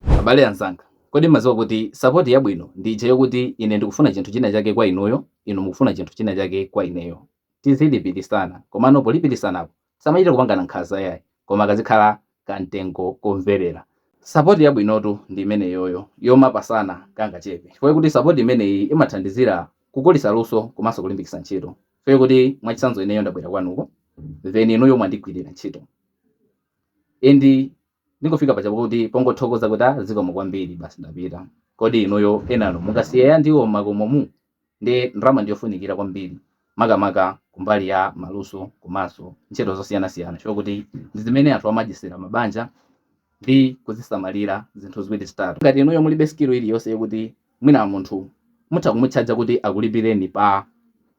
Abale anzanga, kodi m'madziwa kuti sapoti yabwino ndi ija yokuti ine ndikufuna chinthu china chake kwa inuyo, inu mukufuna chinthu china chake kwa ineyo. Tizilipilisana, komano polipilisanapo tisamachite kupangana nkhanza yayi, koma kazikhala ka mtengo komvelera. Sapoti yabwinotu ndi imeneyoyo, yomapasana kangachepe, chifukwa choti sapoti imeneyi imathandizira kukulisa luso komanso kulimbikisa ntchito. Chifukwa choti mwachitsanzo ineyo ndabwera kwanuko, then inuyo mwandigwilira ntchito and. Ndingofika paja kuti pongothokoza kuti ah zikomo kwambiri basi ndapita. Kodi inuyo ana mungawasiyire ya ndiwo m'makomomu? Ndiye ndalama ndi yofunikira kwambiri makamaka kumbali ya maluso komanso ntchito zosiyanasiyana chifukwa kuti ndi zimene anthu amadyetsera mabanja ndi kuzisamalira zinthu ziwiri zitatu. Ngati inuyo mulibe skill iliyonse yokuti mwina munthu mutha kumutchaja kuti akulipireni pa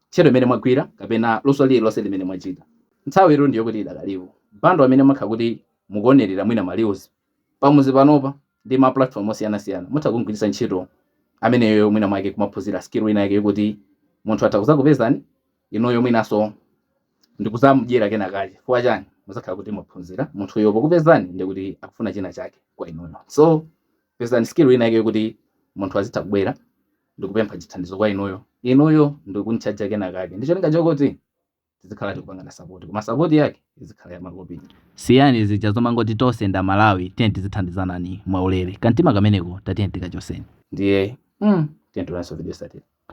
ntchito imene mwagwira kapena luso lililonse limene mwachita, nthawitu ndi yokuti idakalipo. Bundle imene mumakhala kuti mukuonerera mwina ma reels pamodzi panopa ndi ma platform osiyanasiyana mutha kumgwiritsa ntchito ameneyoyo mwina mwake kumaphunzira skill ina yake yokuti munthu atha kuzakupezani inuyo mwinaso ndikuzamdyera kena kache chifukwa chani muzakhala kuti mwaphunzira munthuyo pokupezani ndikuti akufuna china chake kwa inuyo so pezani skill ina yake yokuti munthu azitha kubwera ndikupempha chithandizo kwa inuyo inuyo ndikumuchaja kena kake ndicholinga chokuti tizikhala tikupangana sapoti koma sapoti yake izikhala ya makopini siyani zija zomangoti tonse ndi a Malawi tiyeni tizithandizanani mwaulere kamtima kameneko tatiyeni tikachoseni ndiye mm, tiyeni tionanso video yotsatira